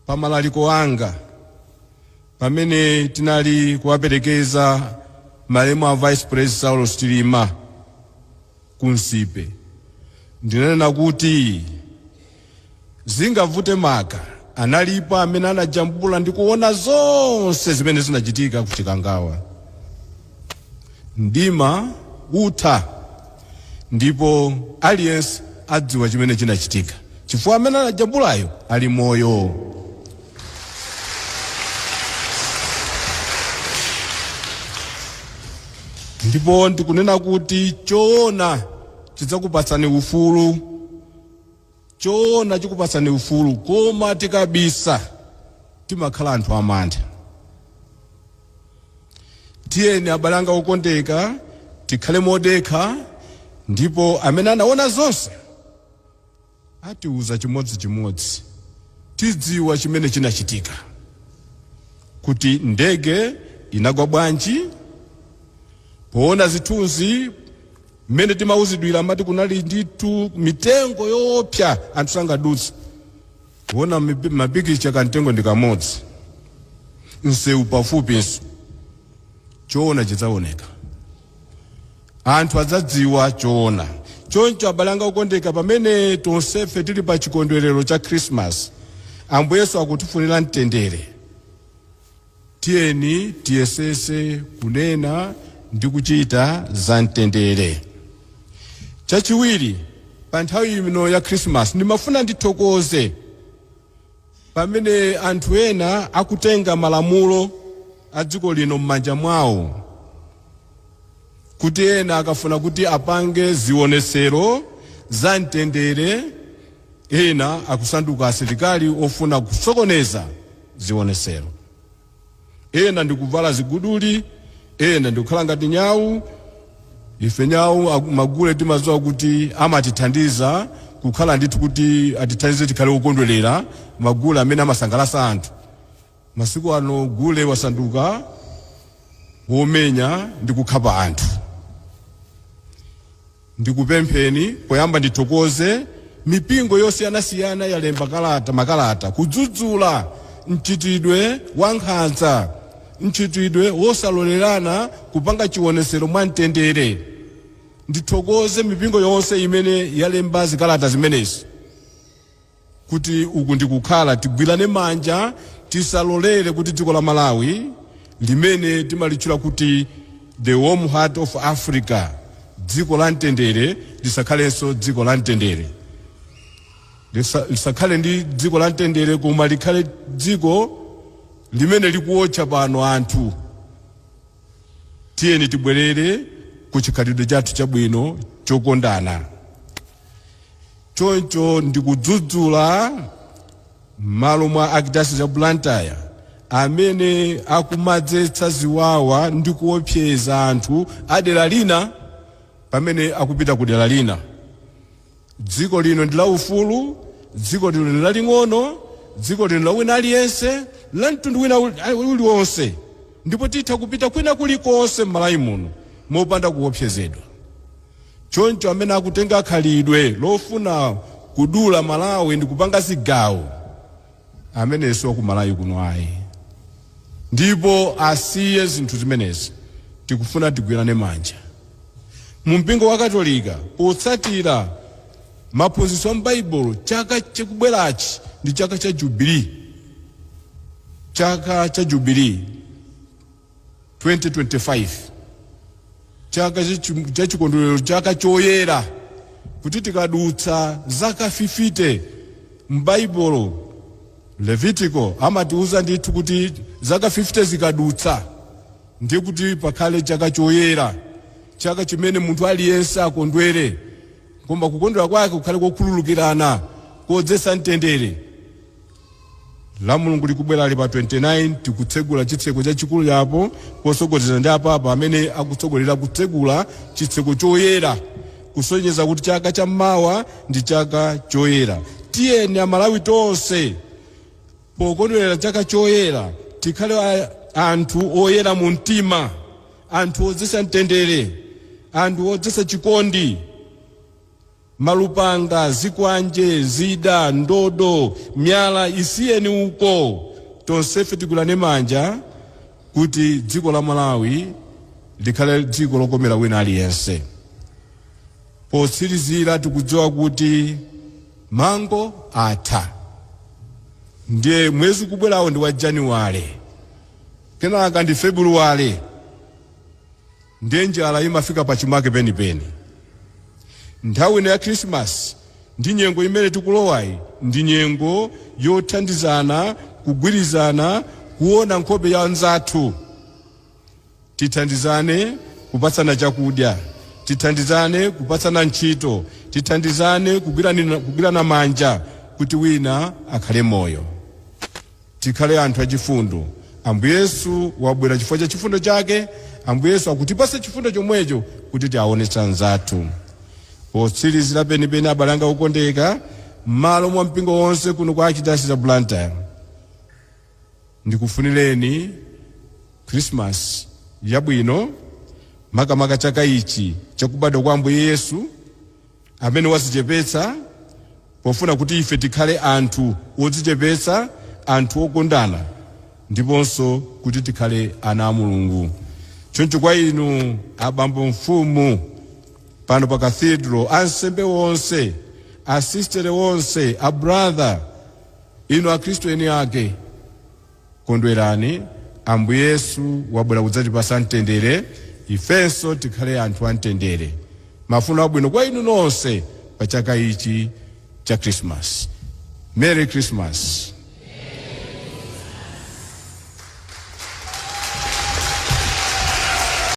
Pa malaliko anga pamene tinali kuwaperekeza malemu a Vice President Saulos Chilima ku Nsipe, ndinanena kuti zingavute maka analipo amene anajambula ndi kuona zonse zimene zinachitika ku Chikangawa. Mdima utha ndipo aliyense adziwa chimene chinachitika chifukwa amene anajambulayo ali moyo. Ndipo ndikunena kuti choona chidzakupatsani ufulu Choona chikupatsani ufulu koma tikabisa timakhala anthu amantha. Tiyeni abale anga okondeka tikhale modekha ndipo amene anaona zonse atiuza chimodzi chimodzi. Tidziwa chimene chinachitika, kuti ndege inagwa bwanji, poona zithunzi, Mmene timauzidwira amati kunali ndithu mitengo yoopsa anthu sangadutse. Kuona mapikicha kamtengo ndi kamodzi, msewu pafupinso, choona chidzaoneka, anthu adzadziwa choona. Choncho abale anga okondeka, pamene tonsefe tili pa chikondwerero cha Khrisimasi, Ambuye Yesu akutifunira mtendere. Tiyeni tiyesetse kunena ndi kuchita za mtendere. Chachiwiri, pa nthawi ino ya Khrisimasi ndimafuna ndithokoze pamene anthu ena akutenga malamulo a dziko lino m'manja mwawo, kuti ena akafuna kuti apange zionetsero za mtendere, ena akusanduka asilikali ofuna kusokoneza. zionetsero. Ena ndi kuvala ziguduli, ena ndi kukhala ngati nyau. Ife nyau magule timadziwa kuti amatithandiza kukhala ndithu kuti atithandize tikhale okondwerera magule amene amasangalatsa anthu. Masiku ano gule wasanduka womenya ndi kukhapa anthu. Ndikupempheni poyamba ndithokoze mipingo yosiyanasiyana yalemba kalata, makalata kudzudzula mchitidwe wankhanza, mchitidwe wosalolerana kupanga chionetsero mwa mtendere. Ndithokoze mipingo yonse imene yalemba zikalata zimenezi. kuti uku ndikukhala tigwirane manja tisalolere kuti dziko la Malawi limene timalitchula kuti the warm heart of Africa dziko la mtendere lisakhalenso dziko la mtendere Lisa- lisakhale ndi dziko la mtendere koma likhale dziko limene likuotcha pano anthu tiyeni tibwerere ku chikhalidwe chathu chabwino chokondana Choncho ndikudzudzula mmalo mwa Archdiocese ya Blantyre amene akumadzetsa ziwawa ndi kuopseza anthu a dera lina pamene akupita ku dera lina. Dziko lino ndi la ufulu, dziko lino ndi laling'ono, dziko lino la wina aliyense, la mtundu wina uli- a- uliwonse ndipo titha kupita kwina kulikonse m'Malawi muno mopanda kuopsezedwa. Choncho amene akutenga khalidwe lofuna kudula Malawi ndikupanga zigawo ameneyo siwakumalawi kuno ayi ndipo asiye zinthu zimenezi tikufuna tigwirane manja mu mpingo wa Katolika potsatira maphunzitso a m'baibulo chaka chikubwerachi ndi chaka cha jubilee chaka cha jubilee. 2025 chaka chichi- cha chikondwerero chaka choyera kuti tikadutsa zaka 50 m'baibulo levitiko amatiuza ndithu kuti zaka 50 zikadutsa ndiye kuti pakhale chaka choyera chaka chimene munthu aliyense akondwere koma kukondwera kwake kukhale kokhululukirana kodzetsa mtendere Lamulungu likubwerali pa 29 tikutsegula chitseko chachikulu chapo potsogozedwa ndi apapa amene akutsogolera kutsegula chitseko choyera kusonyeza kuti chaka cha mawa ndi chaka choyera. Tiyeni amalawi tonse pokondwerera chaka choyera tikhale anthu oyera mu mtima, anthu odzetsa mtendere, anthu odzetsa chikondi. Malupanga, zikwanje, zida, ndodo, miyala isiyeni uko. Tonsefe tigwirane manja kuti dziko la Malawi likhale dziko lokomera wina aliyense. Potsirizira tikudziwa kuti mango atha. Ndiye mwezi ukubwerawo ndi wa January, kenaka ndi February. Ndiye njala imafika pachimake penipeni. Nthawi ino ya Khirisimasi ndi nyengo imene tikulowayi ndi nyengo yothandizana, kugwirizana, kuona nkhope ya anzathu. Tithandizane kupatsana chakudya, tithandizane kupatsana ntchito, tithandizane kugwirana manja kuti wina akhale moyo. Tikhale anthu achifundo. Ambuye Yesu wabwera chifukwa cha chifundo chake. Ambuye Yesu akutipatsa chifundo chomwecho kuti tiawonetse anzathu. Potsirizira penipeni abale anga okondeka, mmalo mwa mpingo wonse kuno ku Archdiocese ya Blantyre, ndikufunireni Khrisimasi yabwino, makamaka chaka ichi chakubadwa kwa Ambuye Yesu. amene wazichepetsa pofuna kuti ife tikhale anthu odzichepetsa, anthu okondana ndiponso kuti tikhale ana a Mulungu. Choncho kwa inu abambo mfumu pano pa Cathedral, ansembe onse, asistere onse, abratha, inu Akhristu eni ake, Kondwerani, Ambuye Yesu wabwera kudzatipatsa mtendere, ifenso tikhale anthu amtendere. Mafuno abwino kwa inu nonse pa chaka ichi cha Khrisimasi. Merry Christmas!